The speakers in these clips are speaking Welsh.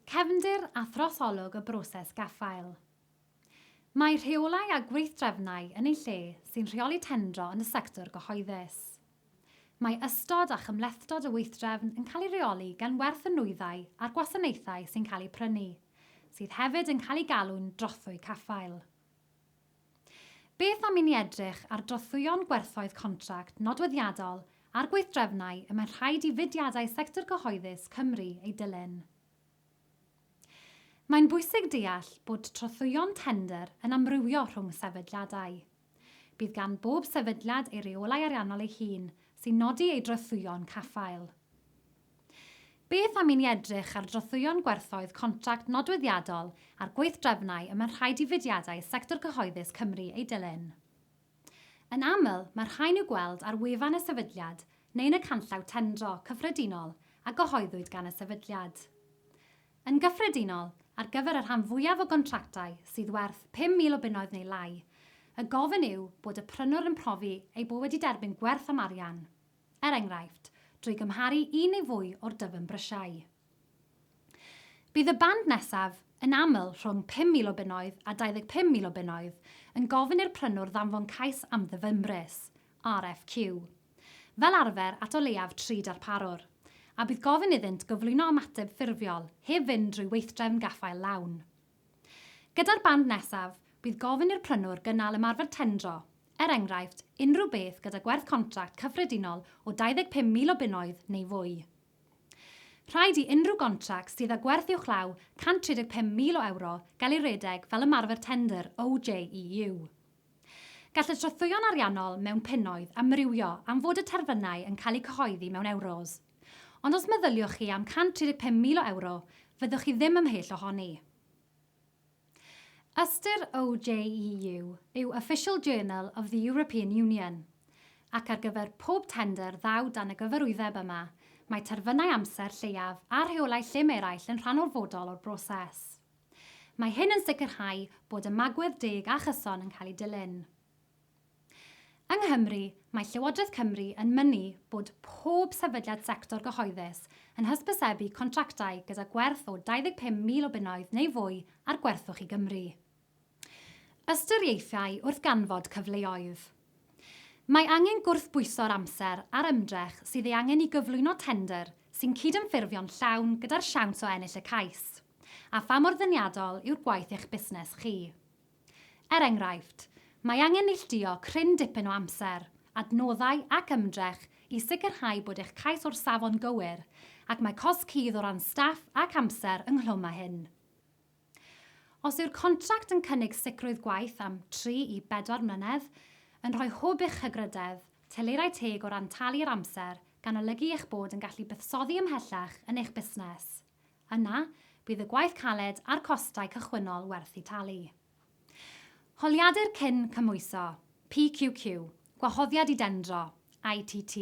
Cefndir a throsolwg y broses gaffael. Mae rheolau a gweithdrefnau yn ei lle sy'n rheoli tendro yn y sector gyhoeddus. Mae ystod a chymhlethdod y weithdrefn yn cael ei reoli gan werth y nwyddau a'r gwasanaethau sy'n cael eu prynu, sydd hefyd yn cael eu galw'n drothwy caffael. Beth am i ni edrych ar drothwyon gwerthoedd contract nodweddiadol a'r gweithdrefnau y mae'n rhaid i fudiadau sector cyhoeddus Cymru eu dilyn? Mae'n bwysig deall bod trothwyon tendr yn amrywio rhwng sefydliadau. Bydd gan bob sefydliad ei reolau ariannol ei hun sy'n nodi ei drothwyon caffael. Beth am i ni edrych ar drothwyon gwerthoedd contract nodweddiadol a'r gweithdrefnau y mae rhaid i fudiadau sector cyhoeddus Cymru eu dilyn? Yn aml, mae'r rhain i'w gweld ar wefan y sefydliad neu yn y canllaw tendro cyffredinol a gyhoeddwyd gan y sefydliad. Yn gyffredinol, ar gyfer y rhan fwyaf o gontractau sydd werth 5,000 o bunnoedd neu lai, y gofyn yw bod y prynwr yn profi ei bod wedi derbyn gwerth am arian. er enghraifft, drwy gymharu un neu fwy o'r dyfnbrysiau. Bydd y band nesaf, yn aml rhwng 5,000 o bunnoedd a 25,000 o bunnoedd, yn gofyn i'r prynwr ddanfon cais am ddyfnbris, RFQ, fel arfer at o leiaf tri darparwr, a bydd gofyn iddynt gyflwyno ymateb ffurfiol heb fynd drwy weithdrefn gaffael lawn. Gyda'r band nesaf, bydd gofyn i'r prynwr gynnal ymarfer tendro, er enghraifft, unrhyw beth gyda gwerth contract cyffredinol o 25,000 o bunnoedd neu fwy. Rhaid i unrhyw gontract sydd â gwerth uwchlaw 135,000 o ewro gael ei redeg fel ymarfer tendr OJEU. Gall y trothwyon ariannol mewn punnoedd amrywio am fod y terfynau yn cael eu cyhoeddi mewn ewros. Ond os meddyliwch chi am 135,000 o ewro, fyddwch chi ddim ymhell ohoni. Ystyr OJEU yw Official Journal of the European Union, ac ar gyfer pob tendr ddaw dan y gyfarwyddeb yma, mae terfynau amser lleiaf a rheolau llym eraill yn rhan orfodol o'r broses. Mae hyn yn sicrhau bod ymagwedd deg a chyson yn cael ei dilyn. Yng Nghymru, mae Llywodraeth Cymru yn mynnu bod pob sefydliad sector gyhoeddus yn hysbysebu contractau gyda gwerth o 25,000 o bunnoedd neu fwy ar gwerthwch i Gymru. Ystyriaethau wrth ganfod cyfleoedd. Mae angen gwrthbwyso'r amser a'r ymdrech sydd ei angen i gyflwyno tendr sy'n cydymffurfio'n llawn gyda'r siawns o ennill y cais, a pha mor ddeniadol yw'r gwaith eich busnes chi. Er enghraifft, mae angen neilltuo cryn dipyn o amser, adnoddau ac ymdrech i sicrhau bod eich cais o'r safon gywir, ac mae cosb cudd o ran staff ac amser ynghlwm â hyn. Os yw'r contract yn cynnig sicrwydd gwaith am tri i bedwar mlynedd, yn rhoi hwb i'ch hygrydedd, telerau teg o ran talu'r amser, gan olygu eich bod yn gallu buddsoddi ymhellach yn eich busnes, Yna, bydd y gwaith caled a'r costau cychwynnol werth eu talu. Holiadur Cyn Cymhwyso, PQQ, Gwahoddiad i Dendro, ITT.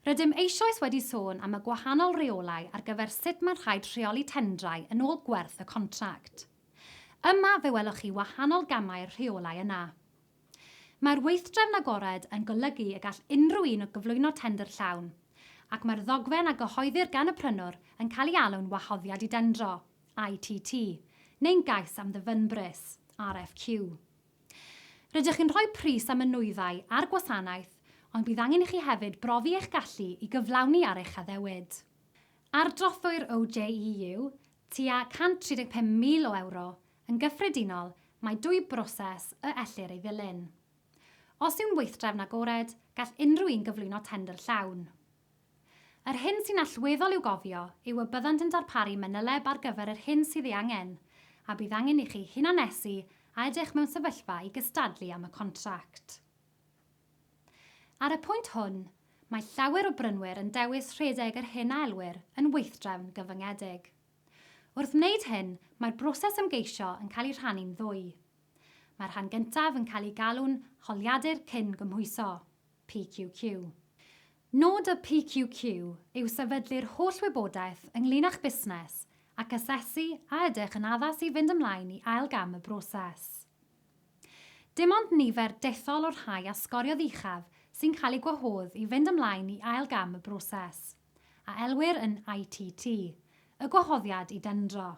Rydym eisoes wedi sôn am y gwahanol reolau ar gyfer sut mae'n rhaid rheoli tendrau yn ôl gwerth y contract. Yma fe welwch chi wahanol gamau'r rheolau yna. Mae'r weithdrefn agored yn golygu y gall unrhyw un gyflwyno tendr llawn, ac mae'r ddogfen a gyhoeddir gan y prynwr yn cael ei alw'n wahoddiad i dendro, ITT, neu'n gais am ddyfynbris, RFQ. Rydych chi'n rhoi pris am y nwyddau a'r gwasanaeth, ond bydd angen i chi hefyd brofi eich gallu i gyflawni ar eich addewid. Ardrothwyr OJEU, tua 135,000 o ewro, yn gyffredinol, mae dwy broses y ellir ei ddilyn. Os yw'n weithdrefn agored, gall unrhyw un gyflwyno tendr llawn. Yr hyn sy'n allweddol i'w gofio yw y byddant yn darparu manyleb ar gyfer yr hyn sydd ei angen, a bydd angen i chi hunannesu a edrych mewn sefyllfa i gystadlu am y contract. Ar y pwynt hwn, mae llawer o brynwyr yn dewis rhedeg yr hyn a elwir yn weithdrefn gyfyngedig. Wrth wneud hyn, mae'r broses ymgeisio yn cael ei rhannu'n ddwy. Mae'r rhan gyntaf yn cael ei galw'n holiadur cyn-gymhwyso, PQQ. Nod y PQQ yw sefydlu'r holl wybodaeth ynglŷn â'ch busnes ac asesu a ydych yn addas i fynd ymlaen i ail gam y broses. Dim ond nifer dethol o'r rhai a sgoriodd uchaf sy'n cael eu gwahodd i fynd ymlaen i ail gam y broses, a elwir yn ITT, y gwahoddiad i dendro.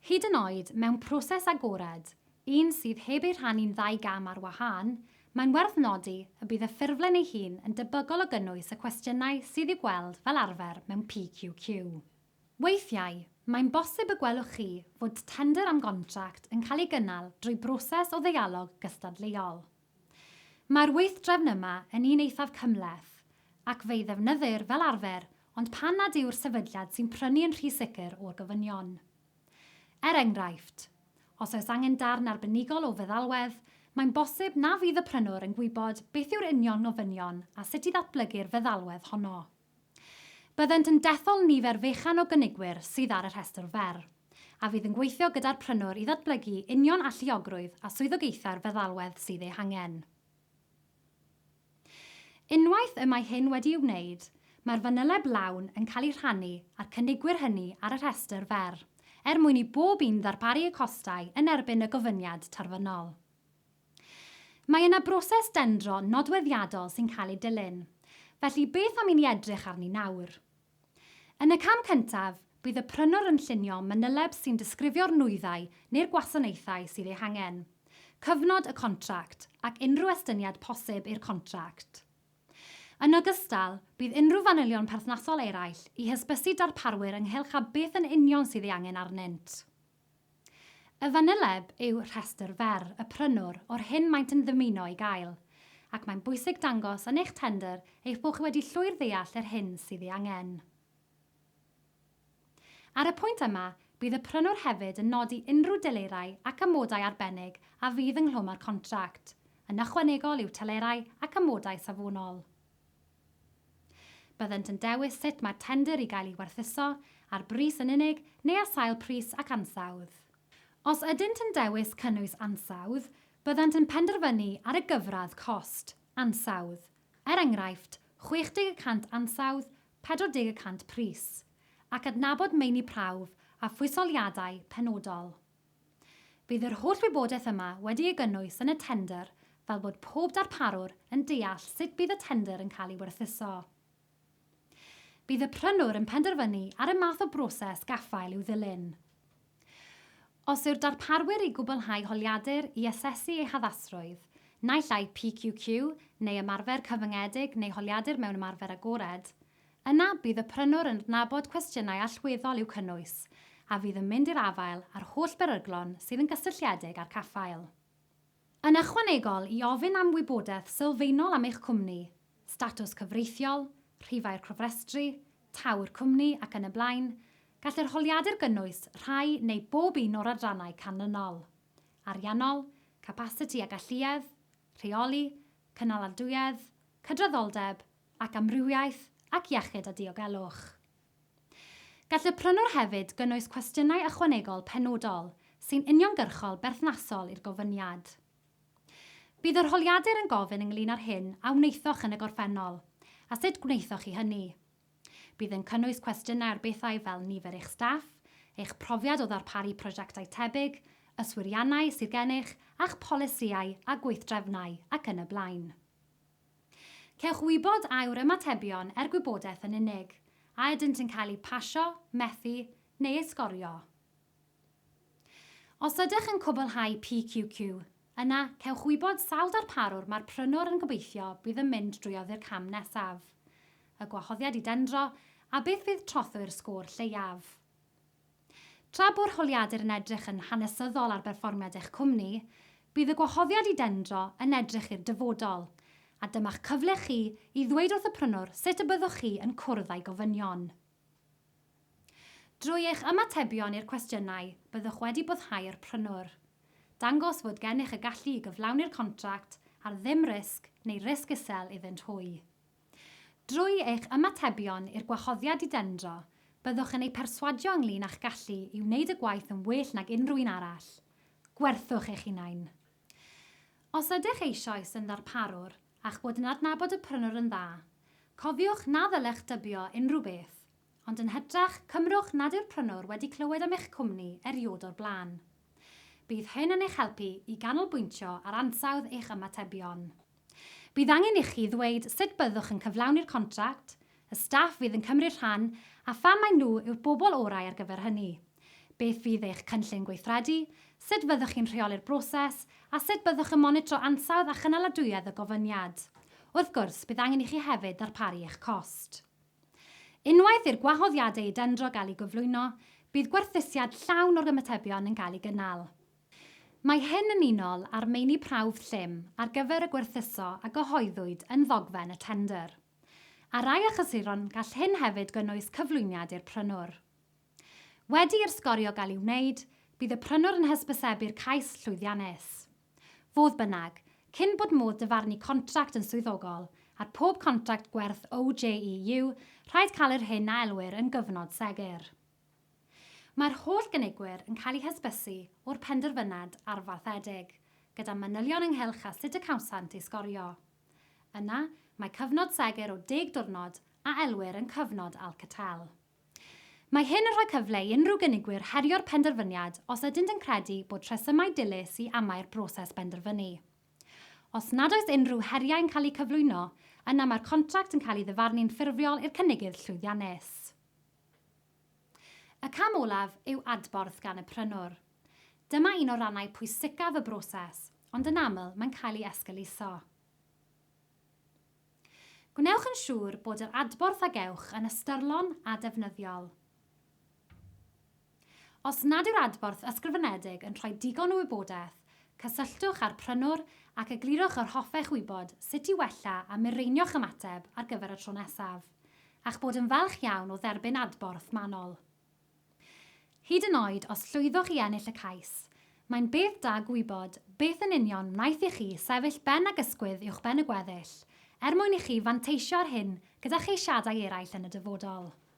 Hyd yn oed mewn proses agored, un sydd heb ei rhannu'n ddau gam ar wahân, mae'n werth nodi y bydd y ffurflen ei hun yn debygol o gynnwys y cwestiynau sydd i'w gweld fel arfer mewn PQQ. Weithiau, mae'n bosib y gwelwch chi fod tendr am gontract yn cael ei gynnal drwy broses o ddeialog gystadleuol. Mae'r weithdrefn yma yn un eithaf cymhleth, ac fe'i ddefnyddir fel arfer ond pan nad yw'r sefydliad sy'n prynu yn rhy sicr o'r gofynion. Er enghraifft, os oes angen darn arbenigol o feddalwedd, mae'n bosib na fydd y prynwr yn gwybod beth yw'r union ofynion a sut i ddatblygu'r feddalwedd honno. Byddent yn dethol nifer fechan o gynigwyr sydd ar y rhestr fer, a fydd yn gweithio gyda'r prynwr i ddatblygu union alluogrwydd a swyddogaethau'r feddalwedd sydd eu hangen. Unwaith y mae hyn wedi'i wneud, mae'r fanyleb lawn yn cael ei rhannu â'r cynigwyr hynny ar y rhestr fer, er mwyn i bob un ddarparu y costau yn erbyn y gofyniad terfynol. Mae yna broses dendro nodweddiadol sy'n cael ei dilyn, felly beth am i ni edrych arni nawr? Yn y cam cyntaf, bydd y prynwr yn llunio manyleb sy'n disgrifio'r nwyddau neu'r gwasanaethau sydd eu hangen, cyfnod y contract ac unrhyw estyniad posib i'r contract. Yn ogystal, bydd unrhyw fanylion perthnasol eraill i hysbysu darparwyr ynghylch â beth yn union sydd ei angen arnynt. Y fanyleb yw rhestr fer y prynwr o'r hyn maent yn ddymuno ei gael, ac mae'n bwysig dangos yn eich tendr eich bod chi wedi llwyr ddeall yr hyn sydd ei angen. Ar y pwynt yma, bydd y prynwr hefyd yn nodi unrhyw delerau ac amodau arbennig a fydd ynghlwm â'r contract, yn ychwanegol i'w telerau ac amodau safonol. Byddent yn dewis sut mae'r tendr i gael ei werthuso, ar bris yn unig neu ar sail pris ac ansawdd. Os ydynt yn dewis cynnwys ansawdd, byddant yn penderfynu ar y gyfradd cost, ansawdd, er enghraifft, 60 y cant ansawdd, 40 y cant pris, ac adnabod meini prawf a phwysoliadau penodol. Bydd yr holl wybodaeth yma wedi ei gynnwys yn y tendr fel bod pob darparwr yn deall sut bydd y tendr yn cael ei werthuso. Bydd y prynwr yn penderfynu ar y math o broses gaffael i'w ddilyn. Os yw'r darparwyr i gwblhau holiadur i asesu ei haddasrwydd, naill ai PQQ neu ymarfer cyfyngedig neu holiadur mewn ymarfer agored, Yna bydd y prynwr yn adnabod cwestiynau allweddol i'w cynnwys, a fydd yn mynd i'r afael â'r holl beryglon sydd yn gysylltiedig â'r caffael. Yn ychwanegol i ofyn am wybodaeth sylfaenol am eich cwmni, statws cyfreithiol, rhifau'r cofrestru, taw'r cwmni ac yn y blaen, gall yr holiadur gynnwys rhai neu bob un o'r adrannau canlynol, ariannol, capasiti a galluedd, rheoli, cynaladwyedd, cydraddoldeb, ac amrywiaeth ac iechyd a diogelwch. Gall y prynwr hefyd gynnwys cwestiynau ychwanegol penodol sy'n uniongyrchol berthnasol i'r gofyniad. Bydd yr holiadur yn gofyn ynglŷn â'r hyn a wnaethoch yn y gorffennol a sut gwnaethoch chi hynny. Bydd yn cynnwys cwestiynau ar bethau fel nifer eich staff, eich profiad o ddarparu prosiectau tebyg, yswiriannau sydd gennych a'ch polisïau a gweithdrefnau ac yn y blaen. Cewch wybod a yw'r ymatebion er gwybodaeth yn unig, a ydynt yn cael eu pasio, methu, neu eu sgorio. Os ydych yn cwblhau PQQ, yna cewch wybod sawl darparwr mae'r prynwr yn gobeithio bydd yn mynd drwy oddi'r cam nesaf, y gwahoddiad i dendro, a beth fydd trothwy'r sgôr lleiaf. Tra bo'r holiadur yn edrych yn hanesyddol ar berfformiad eich cwmni, bydd y gwahoddiad i dendro yn edrych i'r dyfodol, a dyma'ch cyfle chi i ddweud wrth y prynwr sut y byddwch chi yn cwrdd â'i gofynion. Drwy eich ymatebion i'r cwestiynau, byddwch wedi boddhau'r prynwr. Dangos fod gennych y gallu i gyflawni'r contract ar ddim risg neu risg isel iddynt hwy. Drwy eich ymatebion i'r gwahoddiad i dendro, byddwch yn eu perswadio ynglŷn â'ch gallu i wneud y gwaith yn well nag unrhyw un arall. Gwerthwch eich hunain. Os ydych eisoes yn ddarparwr a'ch bod yn adnabod y prynwr yn dda, cofiwch na ddylech dybio unrhyw beth, ond yn hytrach, cymrwch nad yw'r prynwr wedi clywed am eich cwmni erioed o'r blaen. Bydd hyn yn eich helpu i ganolbwyntio ar ansawdd eich ymatebion. Bydd angen ichi ddweud sut byddwch yn cyflawni'r contract, y staff fydd yn cymryd rhan a pham mai nhw yw'r bobl orau ar gyfer hynny, beth fydd eich cynllun gweithredu, sut fyddwch chi'n rheoli'r broses a sut byddwch yn monitro ansawdd a chynaladwyedd y gofyniad. Wrth gwrs, bydd angen ichi hefyd ddarparu eich cost. Unwaith i'r gwahoddiadau i dendro gael eu gyflwyno, bydd gwerthusiad llawn o'r ymatebion yn cael ei gynnal. Mae hyn yn unol â'r meini prawf llym ar gyfer y gwerthuso a gyhoeddwyd yn ddogfen y tendr. Ar rai achlysuron gall hyn hefyd gynnwys cyflwyniad i'r prynwr. Wedi i'r sgorio gael ei wneud, bydd y prynwr yn hysbysebu'r cais llwyddiannus. Fodd bynnag, cyn bod modd dyfarnu contract yn swyddogol, ar pob contract gwerth OJEU, rhaid cael yr hyn a elwir yn gyfnod segur. Mae'r holl gynigwyr yn cael eu hysbysu o'r penderfynad arfaethedig, gyda manylion ynghylch â sut y cawsant ei sgorio. Yna, mae cyfnod segur o deg diwrnod, a elwir yn cyfnod Alcatel. Mae hyn yn rhoi cyfle i unrhyw gynigwyr herio'r penderfyniad os ydynt yn credu bod rhesymau dilys i amau'r broses benderfynu. Os nad oes unrhyw heriau yn cael eu cyflwyno, yna mae'r contract yn cael ei ddyfarnu'n ffurfiol i'r cynigydd llwyddiannus. Y cam olaf yw adborth gan y prynwr. Dyma un o rannau pwysicaf y broses, ond yn aml mae'n cael ei esgeuluso. Gwnewch yn siŵr bod yr adborth a gewch yn ystyrlon a defnyddiol. Os nad yw'r adborth ysgrifenedig yn rhoi digon o wybodaeth, cysylltwch â'r prynwr ac eglurwch yr hoffech wybod sut i wella a mireinio'ch ymateb ar gyfer y tro nesaf, a'ch bod yn falch iawn o dderbyn adborth manwl. Hyd yn oed os llwyddoch i ennill y cais, mae'n beth da gwybod beth yn union wnaeth i chi sefyll ben ag ysgwydd uwchben y gweddill, er mwyn i chi fanteisio ar hyn gyda cheisiadau eraill yn y dyfodol.